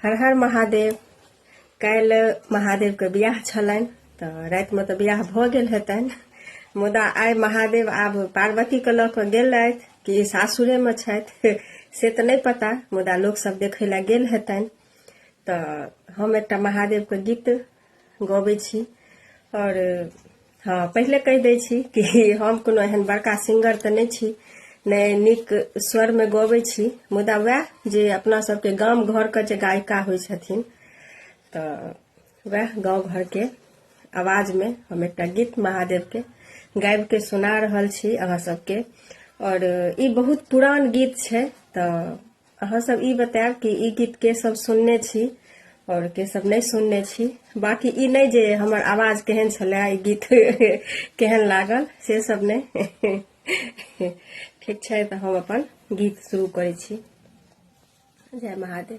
हर हर महादेव काल्हि महादेवके बियाह छलनि तऽ रातिमे तऽ बियाह भऽ गेल हेतनि मुदा आइ महादेव आब पार्वतीके लऽ कऽ गेलथि कि सासुरेमे छथि से तऽ नहि पता मुदा लोकसभ देखै लए गेल हेतनि तऽ हम एकटा महादेवके गीत गबै छी आओर हँ पहिले कहि दै छी कि हम कोनो एहन बड़का सिंगर तऽ नहि छी नहि नीक स्वरमे गबै छी मुदा वएह जे अपना सबके गाम घरके जे गायिका होइ छथिन तऽ वएह गाँव घरके आवाजमे हम एकटा गीत महादेवके गाबिके सुना रहल छी अहाँ सबके आओर ई बहुत पुरान गीत छै तऽ अहाँ सब ई बतायब कि ई गीत के सब सुनने छी और के सब नहीं सुनने छी बाकी ई नहीं जे हमर आवाज केहन छले ई गीत केहन लागल से सब नहीं ठीक छै तऽ हम अपन गीत शुरू करै छी जय महादेव